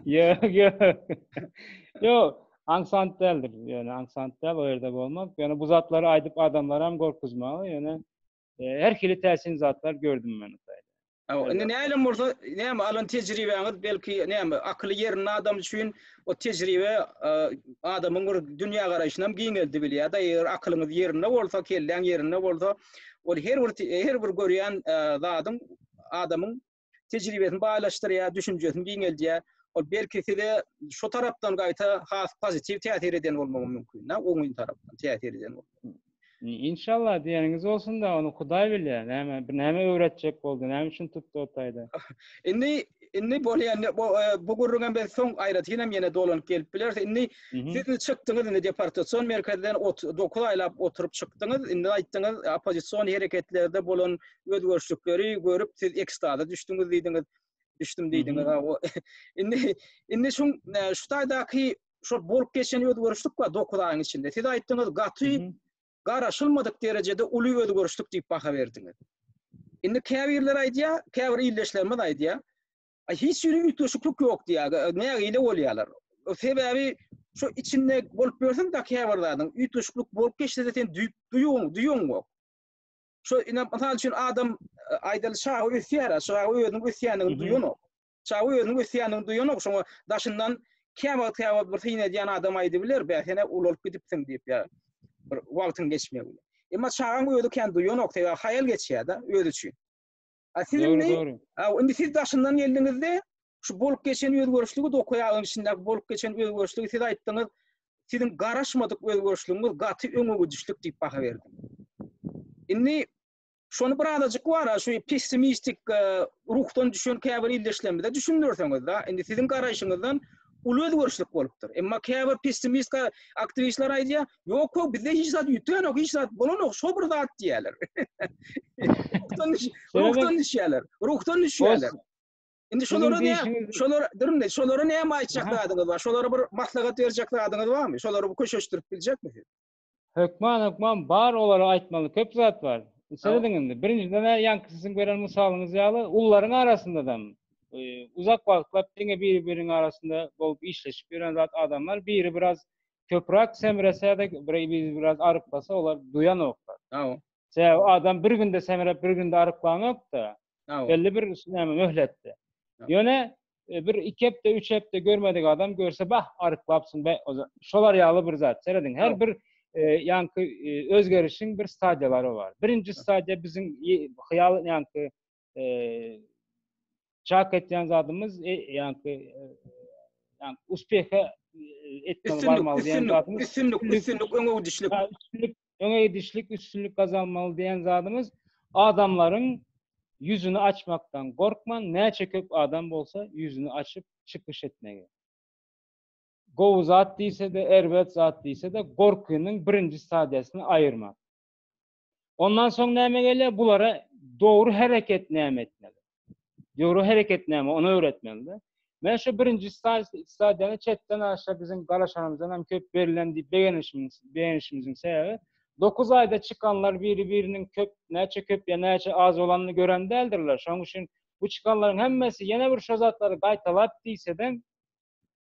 Ýok, ýok. Ýok, aňsat däldir. Ýöne aňsat däl, o ýerde bolmak. Ýöne bu zatlary aýdyp adamlary hem gorkuzmagy, ýöne e, her hili täsin zatlar gördüm men. Aw, indi näle bolsa, näme alan tejribäňiz belki näme akyly ýerinde adam üçin o tejribe e, adamyň bir dünýä garaýşyny hem giňeldi bilýär. Da eger akylyňyz ýerinde bolsa, kelläň ýerinde bolsa, ol her bir her bir görýän e, zadyň adamyň tejribesini baýlaşdyrýar, düşünjesini giňeldýär. Ol belki size şu tarapdan gaýta has pozitiw täsir eden bolmagy mümkin-dä, oňyn tarapdan täsir eden bolmagy. Inşallah diýeniňiz bolsun-da, ony Hudaý bilýär. Näme, näme öwretjek boldy, näme üçin tutdy o taýda? Indi indi bolýan bu e, bu gürrüňe biz soň aýratyn hem ýene dolanyp gelip bileris. Indi siz çykdyňyz indi deportasion merkezden 9 aýlap oturyp çykdyňyz. Indi aýtdyňyz oppozision hereketlerde bolan özgerişlikleri görüp siz ekstaza düşdüňiz diýdiňiz. Düşdüm diýdiňiz. O indi indi şu şu taýdaky şu bolup geçen özgerişlik we 9 aýyň içinde siz aýtdyňyz gaty garaşylmadyk derejede uly özgerişlik diýip baha berdiňiz. Indi käbirler aýdýar, käbir ildeşlerimiz aýdýar, hiç ýeri üýtgeşiklik ýok diýýär. Nägile bolýarlar. Sebäbi şu içinde bolup ýörseň da käbir zadyň üýtgeşiklik bolup geçse sen duýuň, duýuň bok. Şu ine mysal üçin adam e, aýdaly çaga ösýär, çaga özüniň ösýändigini duýanok. Çaga özüniň ösýändigini duýanok, şoňa daşyndan käwagt wagt käwagt bir syn edýän adam aýdyp biler, bä sen ulalyp gidipsiň diýip ýa bir wagtyň geçmegi bilen. Emma çagaň özi kän duýanok, sebäbi haýal geçýär-de özi üçin. A siz indi indi siz daşyndan geldiňizde şu bolup geçen özgerişligi dokuýagyň içindäki bolup geçen özgerişligi siz aýtdyňyz. Siziň garaşmadyk özgerişligiňiz gaty öňe gidişlik diýip baha berdim. Indi şony bir azajyk bar, şu pessimistik e, ruhdan düşen käbir ildeşlerimize düşündirseňiz da, indi siziň garaýşyňyzdan uly özgerişlik bolupdyr. Emma käbir pessimist aktiwistler aýdýar, Yok yok bizde hiç zat yüten yok, hiç zat bolan yok, şu bir zat diyeler. ruhtan, düş, ruhtan düşüyorlar, ruhtan düşüyorlar. Şimdi şolara ne, şolara, durun ne, şolara ne mi aytacak adınız var? Şolara bir maslahat verecek adınız var mı? Şolara bir köşeştirip bilecek misiniz? Hökman, hökman, bar olara aytmalı, köp zat var. Seyredin indi. Birinciden de yankı sizin gören misalınız yalı, ulların arasında da e, uzak vakitler dine biri birinin arasında bolup işleşip yören zat adamlar, biri biraz köprak semresedik biz biraz aryplasa olar duýanoklar sebäbi adam bir günde semrep bir günde aryplanokda belli bir näme möhletde ýöne e, bir iki hepde üç hepde görmedik adam görse bah aryplapsyn be şolar ýaly bir zat serediň her bir e, ýanky e, özgerişiň bir stadiýalary bar birinji stadiýa biziň hyýal ýanky çak etýän zadymyz e, ýagny ýagny uspehe etmek barmaly diýen zadymyz üstünlik üstünlik öňe gidişlik üstünlik öňe gidişlik üstünlik gazanmaly diýen zadymyz adamlaryň ýüzüni açmakdan gorkman näçe köp adam bolsa ýüzüni açyp çykyş etmegi gowy zat diýse-de erbet zat diýse-de gorkynyň birinji stadiýasyny aýyrmak Ondan soň näme gelýär? Bulara dogry hereket näme etmeli? Dogry hereket näme? Ony öwretmeli. Men şu birinji stadiýany çetden aşa biziň galaşanymyzdan hem köp berilen diýip begenişimiz, begenişimiziň sebäbi 9 aýda çykanlar biri-biriniň köp, näçe köp ýa näçe az bolanyny gören däldirler. Şonuň üçin bu çykanlaryň hemmesi ýene bir şo zatlary gaýtalap diýsede,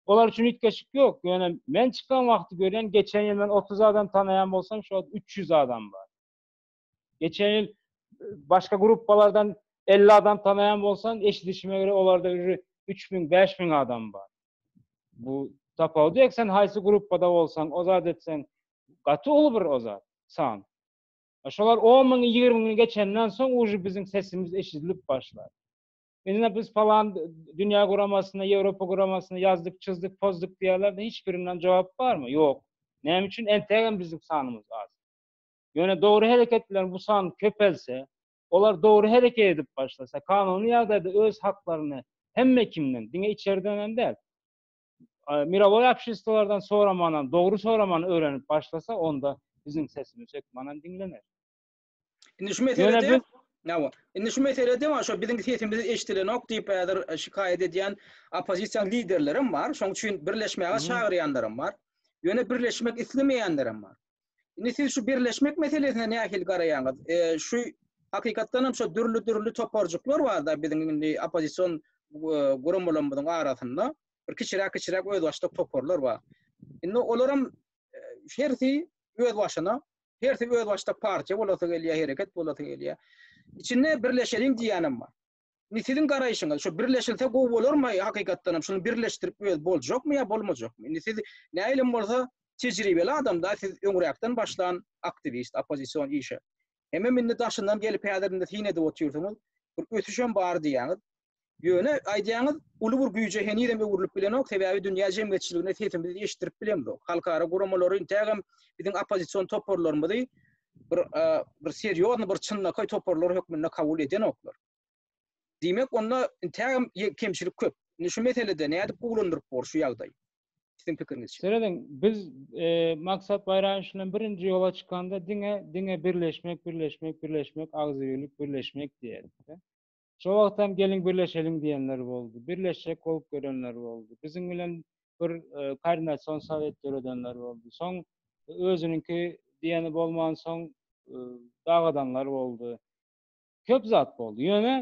Olar üçin üýtgeşik ýok. Ýöne men çykan wagty görýän, geçen ýyl men 30 adam tanaýan bolsam, şu wagt 300 adam bar. Geçen ýyl başga gruppalardan 50 adam tanaýan bolsam, eşidişime görä olarda ýüri 3000-5000 adam bar. Bu tapawut ýok, sen haýsy gruppada bolsaň, o zat etseň, gaty uly bir o zat, san. Şolar 10 müňi, 20 müňi geçenden soň uji biziň sesimiz eşidilip başlar. Indi biz palan dünýä guramasyna, Ýewropa guramasyna ýazdyk, çyzdyk, pozduk diýýärler, hiç birinden jogap barmy? Ýok. Näme üçin entegem biziň sanymyz az? Ýöne dogry hereket bilen bu san köpelse, olar dogry hereket edip başlasa, kanuny ýagdaýda öz haklaryny hemme kimden, diňe içeriden hem däl, mirowoý obşestwolardan soramanam, dogry soramany öwrenip başlasa, onda biziň sesimiz hökmanam diňlener. Indi şu meselede Nawa. Indi şu meselede wan şo biziň sesimiz eşidilenok diýip häzir e, şikaýat edýän oppozisiýa liderlerim bar. Şoň üçin birleşmäge çagyrýanlarym bar. Ýöne birleşmek islemeýänlerim bar. Indi siz şu birleşmek meselesine nähili garaýaňyz? E, şu hakykatdan hem şu dürli-dürli toparjyklar bar-da biziň indi oppozision e, guramalarymyzyň arasynda bir kiçiräk-kiçiräk özbaşdak toparlar bar. Indi olaram e, hersi öz başyna Hersi özbaşdak partiýa bolasy gelýär, hereket bolasy gelýär. Içinde birleşeliň diýýänem bar. Indi siziň garaýşyňyz, şu birleşilse gowy bolarmy hakykatdan hem? Şuny birleşdirip öz boljakmy ýa bolmajakmy? Indi siz nähilem bolsa tejribeli adam da, siz öňräkden başlan aktiwist, oppozision işe. Hemem indi daşyndan gelip häzir indi syn edip otyrsyňyz. Bir ösüşem bar diýýäňiz. Ýöne aýdýaňyz, uly bir güýje henizem öwrülip bilenok, sebäbi dünýä jemgyýetçiligine sesimizi eşitdirip bilemzok. Halkara guramalary intägem biziň oppozision toparlarymyzy bir bir serýozny bir çynlakaý toparlar hökmünde kabul edenoklar. Diýmek, onda intägem kemçilik köp. Indi şu meselede nädip gowulandyryp bolar şu ýagdaýy? Siziň pikiriňizçe. Serediň, biz Maksat Baýramowiç bilen birinji ýola çykanda diňe diňe birleşmek, birleşmek, birleşmek, agzybirlik, birleşmek diýerdik-de. Şo wagtam geliň birleşeliň diýenler boldy. Birleşjek bolup gelenler boldy. Biziň bilen bir koordinasion sowet döredenler boldy. Soň özüniňki diýeni bolmansoň dagadanlar boldy. Köp zat boldy. Ýöne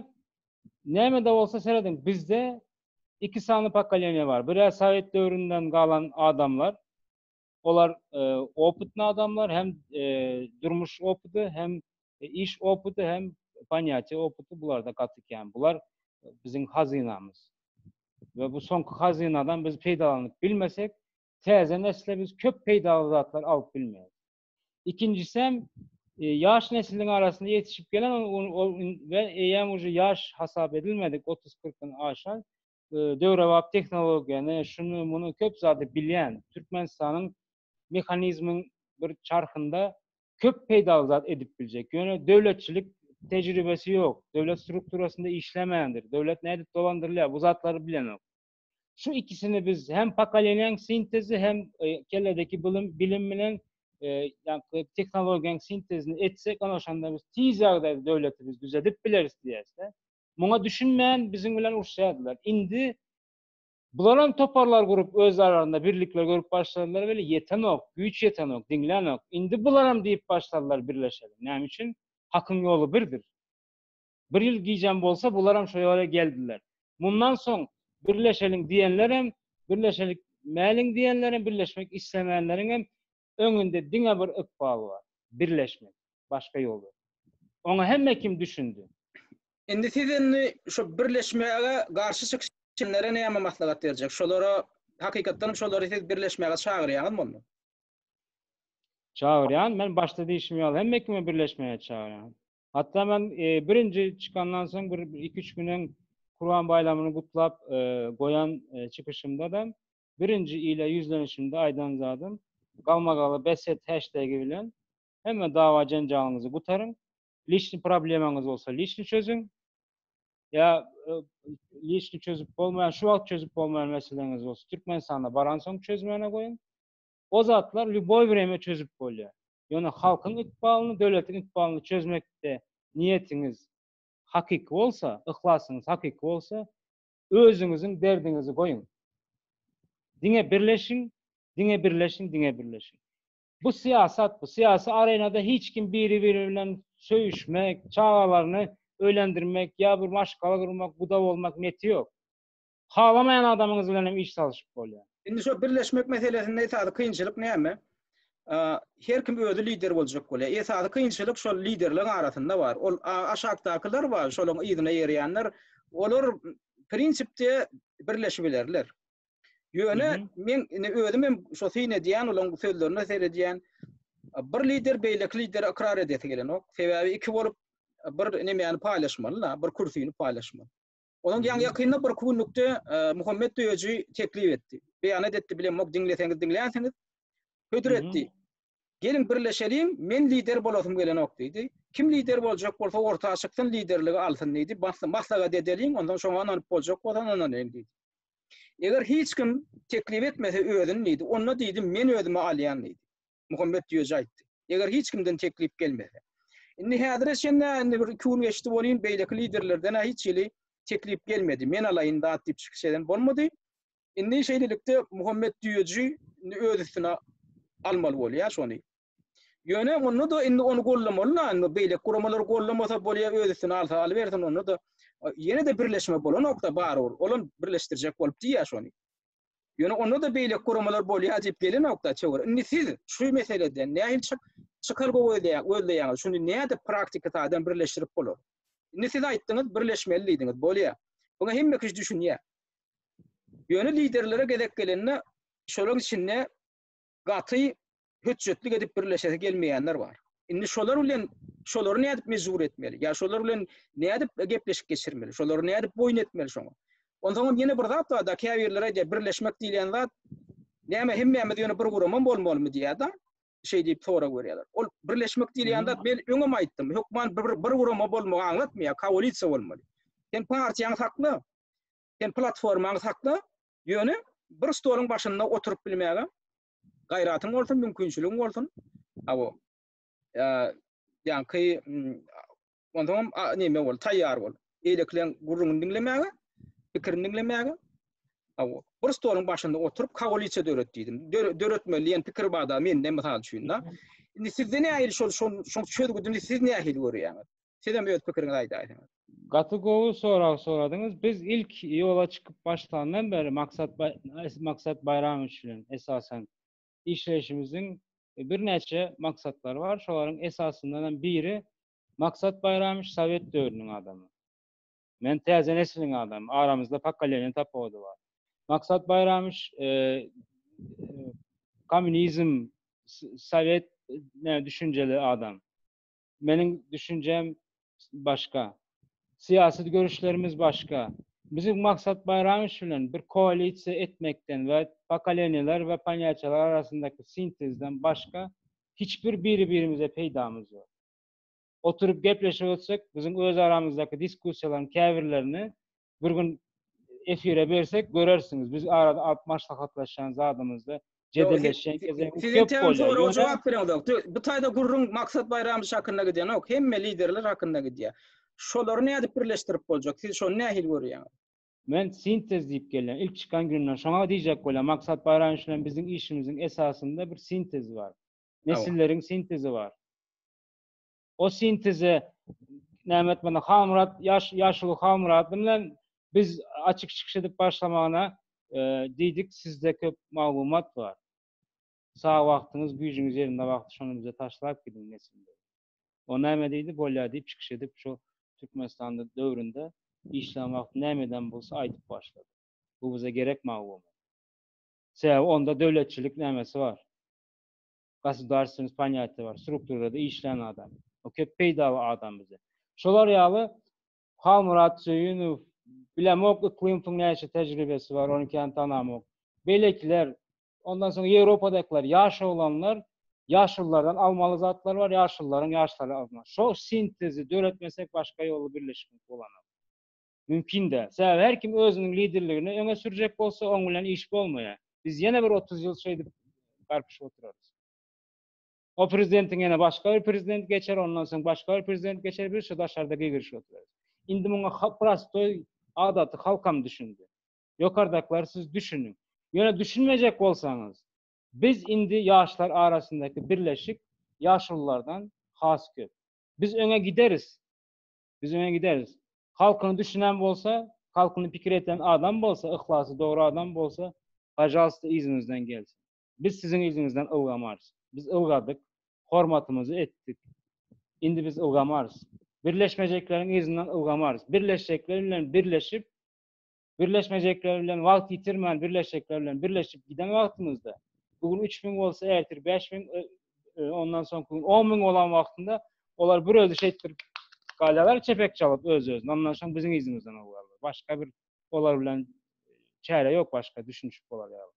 näme-de bolsa serediň, bizde iki sany pokoleniýa bar. Bir-ä sowet döwründen galan adamlar, Olar opytny adamlar, hem durmuş opyty, hem iş opyty, hem panýatiýe opyty bularda gaty kän. Bular biziň hazynamyz. We bu soňky hazynadan biz peýdalanyp bilmesek, täze nesle biz köp peýdaly zatlar alyp bilmeýäris. Ikinjisi hem ýaş nesliň arasynda ýetişip gelen we eýýäm uje ýaş hasap edilmedik, otuz-kyrkdan aşan döwrebap tehnologiýany, şuny, muny köp zady bilýän, Türkmenistanyň mehanizmiň bir çarhynda köp peýdaly zat edip biljek, ýöne döwletçilik tejribesi ýok, döwlet strukturasynda işlemändir, döwlet nädip dolandyrylýar, bu zatlary bilenok. Şu ikisini biz hem pokoleniýaň sintezi hem kelledeki bilim, bilim bilen tehnologiýaň sintezini etsek, ana şonda biz tiz ýagdaýda döwleti biz düzedip bileris diýýäs-de. Muňa düşünmän biziň bilen uruşýardylar. Indi bularam toparlar gurup öz aralarynda birlikler görüp başladylar weli ýetenok, güýç ýetenok, diňlänok. Indi bularam diýip başladylar birleşeli. Näme üçin? Hakyň ýoly birdir. Bir ýyl gijäm bolsa bularam şo ýola geldiler. Mundan soň birleşeliň diýenlerem birleşelik mäliň diýenlerem birleşmek islemänleriňem Öňünde diňe bir ykbal bar. Birleşmek. Başga ýol ýok. Oňa hemme kim düşündi. Indi siz indi şu birleşmäge garşy çykşanlara näme maslahat berjek? Şolara, hakykatdanam şolary siz birleşmäge çagyrýaňyzmy onda? Çagyrýan. Men başda diýşim ýaly hemme kimi birleşmäge çagyrýan. Hatda men birinji çykandan soň bir iki-üç gün öň Kurban baýramyny gutlap goýan çykyşymda-da Birinji ile ýüzlenişimde aýdan zadym, galmagaly bes et heştegi bilen hemme dawa-jenjalyňyzy gutaryň, liçni problemaňyz bolsa liçni çözüň, ýa liçni çözüp bolmaýan, şu wagt çözüp bolmaýan meseleňiz bolsa Türkmenistana baransoň çözmäne goýuň. O zatlar lýuboý wremýa çözüp bolýar. Ýöne halkyň ykbalyny, döwletiň ykbalyny çözmekde niýetiňiz hakyky bolsa, yhlasyňyz hakyky bolsa, özüňiziň derdiňizi goýuň. Diňe birleşiň, diňe birleşiň, diňe birleşiň. Bu syýasat, bu syýasy arenada hiç kim biri-biri bilen söýüşmek, çagalaryny öýlendirmek ýa bir maşgala gurmak, guda bolmak neti ýok. Halamaýan adamyňyz bilen hem iş salyşyp bolýar. Indi şo birleşmek meselesinde esasy kynçylyk näme? Her kim özi lider boljak bolýar. Esasy kynçylyk şol liderligiň arasynda bar. Ol aşakdakylar bar, şolaryň yzyna ýerýänler. Olar prinsipde birleşip bilerler. Ýöne men indi özüm hem şo syn edýän, olaryň sözlerine seredýän. Bir lider beýleki lideri ykrar edesi gelenok. Sebäbi iki bolup bir nemäni paýlaşmaly-la, bir kürsini paýlaşmaly. Onuň ýaňy ýakynda bir künlükde Muhammet Döýeji teklip etdi. Beýanat etdi bilemok, diňleseňiz diňlänsiňiz. Hödür etdi. Geliň birleşeliň, men lider bolasym gelenok diýdi. Kim lider boljak bolsa orta çyksyn, liderligi alsyn diýdi. Maslahat edeliň, ondan soň ynanyp boljak bolsa ynanyň diýdi. Eger hiç kim teklip etmese özüni diýdi, onda diýdi men özümi alýan diýdi. Muhammet Düýeji aýtdy. Eger hiç kimden teklip gelmese. Indi häzire çenli indi bir iki gün geçdi bolýyn, beýleki liderlerden hiç hili teklip gelmedi. Men alaýyn zat diýip çykyş eden bolmady. Indi şeýlelikde Muhammet Düýeji indi öz üstüne almaly bolýar şony. Ýöne onda da indi ony gollamaly da, indi beýleki guramalary gollamasa bolýar, öz üstüne alsa alybersin, onda da ýene-de birleşme bolanok-da barybir. Olam birleşdirjek bolup diýýär şony. Ýöne onda-da beýleki guramalar bolýar diýip gelenokda çöwer. Indi siz şu meseleden nähili çyk çykar gözleýär, gözleýäňiz. Şuny nädip praktiki taýdan birleşdirip bolar? Indi siz aýtdyňyz, birleşmeli diýdiňiz. Bolýar. Muňa hemme kişi düşünýär. Ýöne liderlere gezek gelende şolaryň içinde gaty hötjetlik edip birleşesi gelmeýänler bar. Indi şolar bilen şolary nädip mejbur etmeli? Ýa şolar bilen nädip gepleşik geçirmeli? Şolary nädip boýun etmeli şoňa? Onsoň hem ýene bir zat bar-da, käbirleri aýdýar, birleşmek diýilýän zat näme hemmämiz ýöne bir guramam bolmalymy diýýär-de, şeý diýip sorag berýärler. Ol birleşmek diýilýän zat men öňem aýtdym, hökman bir bir gurama bolmagy aňlatmaýar, koalisiýa bolmaly. Sen partiýaňy sakla. Sen platformaňy sakla, ýöne bir stoluň başynda oturyp bilmäge gaýratyň bolsun, mümkinçiligiň bolsun. Hawa. Ýaňky onsoňam näme bol, taýýar bol. Beýlekileň gürrüňini diňlemäge, pikirini diňlemäge. Hawa. Bir stoluň başynda oturyp koalisiýa döret diýdim. Döretmeli diýen pikir bar-da mende mysal üçin-de. Indi sizde nähili şol şol çözgüdini siz nähili görýäňiz? Sizem öz pikiriňizi aýdaýsaňyz. Gaty gowy sorag soradyňyz. Biz ilk ýola çykyp başlandan bäri Maksat Maksat Baýramowiç bilen esasan işleýşimiziň birnäçe maksatlary bar. Şolaryň esasyndanam biri Maksat Baýramowiç sowet döwrüniň adamy. Men täze nesliň adamy. Aramyzda pokoleniýa tapawudy bar. Maksat Baýramowiç kommunizm, sowet düşünjeli adam. Meniň düşünjem başga. Syýasy görüşlerimiz başga. Biziň maksat Baýramowiç bilen bir koalisiýa etmekden we pokoleniýalar we ponýatiýalar arasyndaky sintezden başga hiç bir biri-birimize peýdamyz ýok. Oturyp gepleşip ötsek, biziň öz aramyzdaky diskussiýalaryň käbirlerini bir gün efire bersek görersiňiz. Biz arada alyp maslahatlaşan zadymyzda jedelleşen gezek köp bolýar. Siz täze soraga jogap berýäňiz. Bu taýda gürrüň Maksat Baýramyç hakynda gidýänok, hemme liderler hakynda gidýär. Şolary nädip birleşdirip boljak? Siz şony nähili görýäňiz? Men sintez diýip gelýän. Ilk çykan günümden şoňa diýjek bolýan. Maksat Baýramyç bilen biziň işimiziň esasynda bir sintez bar. Nesilleriň sintezi bar. o sinteze näme etmeli? Halmyrat, ýaş, ýaşuly Halmyrat bilen biz açyk çykyş edip başlamagyna e, diýdik, sizde köp maglumat bar. Sag wagtyňyz, güýjüňiz ýerinde wagty şony bize taşlap gidiň nesilde. O näme diýdi? Bolýar diýip çykyş edip şu Türkmenistanda döwründe işlän wagty näme eden bolsa aýdyp başlady. Bu bize gerek maglumat. Sebäbi onda döwletçilik nämesi bar. gosudarstweniýet poniatiýa bar, strukturada işlän adam. O köp peýdaly adam bize. Şolar ýaly Halmyrat Söýünow, bilemok Yklymowyň näçe tejribesi bar, ony kän tanamok. Beýlekiler, ondan soň Ýewropadakylar, ýaş oglanlar, ýaşululardan almaly zatlar bar, ýaşulularyň ýaşlara almaly. Şo sintezi döretmesek başga ýoly birleşmek bolanok. mümkin däl. Sebäbi her kim özüniň liderligini öňe sürjek bolsa, oň bilen iş bolmaýar. Biz ýene bir otuz ýyl şeýdip garpyşyp oturarys. O prezidentiň ýene başga bir prezident geçer, ondan soň başga bir prezident geçer, biz şu daşarda gigirişip oturarys. Indi muňa ha prostoý adaty halkam düşündi. Ýokardakylar siz düşüniň. Ýöne düşünmejek bolsaňyz, biz indi ýaşlar arasyndaky birleşik ýaşululardan has köp. Biz öňe gideris. Biz öňe gideris. Halkyny düşünen bolsa, halkyny pikir eden adam bolsa, yhlasy dogry adam bolsa, pajalsta yzyňyzdan gelsin. Biz siziň yzyňyzdan ylgamarys. Biz ylgadyk, hormatymyzy etdik. Indi biz ylgamarys. Birleşmejekleriň yzyndan ylgamarys. Birleşjekler bilen birleşip, Birleşmejekler bilen wagt ýitirmän birleşjekler bilen birleşip giden wagtymyzda bu gün üç müň bolsa ertir bäş müň ondan soňky gün on müň bolan wagtynda olar bir özi şeýtdir galýarlar çepek çalyp öz özüne ondan soň biziň yzymyzdan owýarlar başga bir olar bilen çäre ýok başga düşünişip bolar ýaly.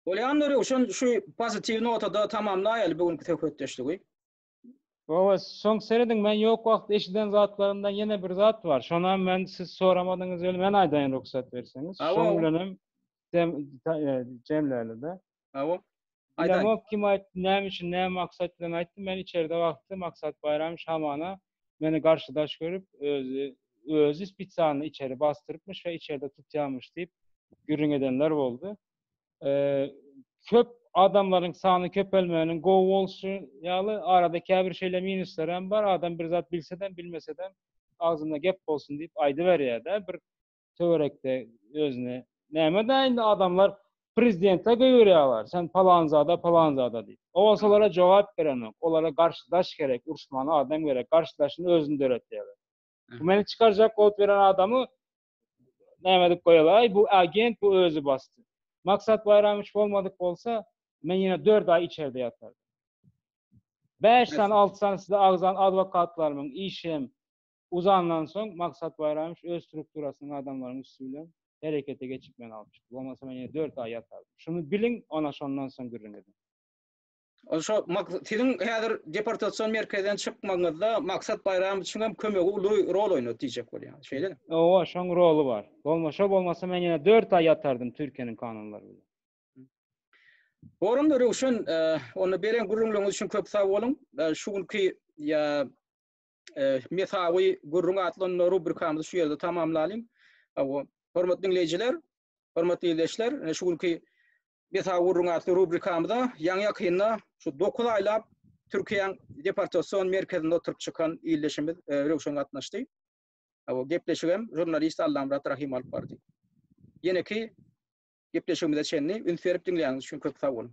Bolýandy Röwşen şu pozitiw notada tamamlaýaly bu günki söhbetdeşligi. Owa, soň serediň, men ýok wagt eşiden zatlarymdan ýene bir zat bar. Şonam men siz soramadyňyz weli men aýdaýyn rugsat berseňiz. Awa, Şoň awa. bilenem dem ta- e, jemläli-de. Awa. Aýdaýyn. Bilemok kim aýtdy, näme üçin, näme maksat bilen aýtdy. Men içerde wagty Maksat Baýramow hamana meni garşydaş görüp, özi özi spesialny içeri basdyrypmyş we içerde tutýarmyş diýip gürrüň edenler boldy. köp adamlaryň sany köpelmeginiň gowy bolşy ýaly, arada käbir şeýle minuslar hem bar, adam bir zat bilsedem, bilmesedem, agzynda gep bolsun diýip aýdyberýär-dä bir töwerekde özüne. Näme-dä indi adamlar prezidente göýberýärler, sen palanzada, palanzada diýip. O bolsa olara jogap berenok, olara garşy daş gerek, uruşmaly adam gerek, garşydaşyny özüni döretýärler. Bu meni çykarjak bolup ýören adamy näme edip goýalaý, bu agent, bu özi basdy. Maksat Baýramowiç bolmadyk bolsa, men ýene dört aý içerde ýatardym. Bäş sany, alty sany size agzan adwokatlarymyň işi hem uzandan soň, Maksat Baýramowiç öz strukturasynyň adamlarynyň üsti bilen herekete geçip meni alyp çykdy. Bolmasa men ýene dört aý ýatardym. Şuny biliň, ana şondan soň gürrüň ediň. Ol şo siziň häzir deportasion merkezden çykmagyňyzda Maksat Baýramow üçin hem kömegi uly rol oýnady diýjek bolýan. Şeýlemi? Owa, şoň roly bar. Bolmasa bolmasa men ýene 4 aý ýatardym Türkiýäniň kanunlary bilen. Gorumly Röwşen, e, onda beren gürrüňleriňiz üçin köp sag boluň. E, şu günki ýa e, mesawy gürrüň atlanma rubrikamyzy şu ýerde tamamlalyň. Hormatly diňleýjiler, hormatly ildeşler, şu günki Meta gürrüň atly rubrikamyza ýaňy-ýakynda şu dokuz aýlap Türkiýäň deportasion merkezinde oturyp çykan ildeşimiz Röwşen gatnaşdy. Bu gepleşigem žurnalist Allamyrat Rahym alyp bardy. Ýeneki gepleşigimize çenli üns berip diňläniňiz üçin köp sag boluň.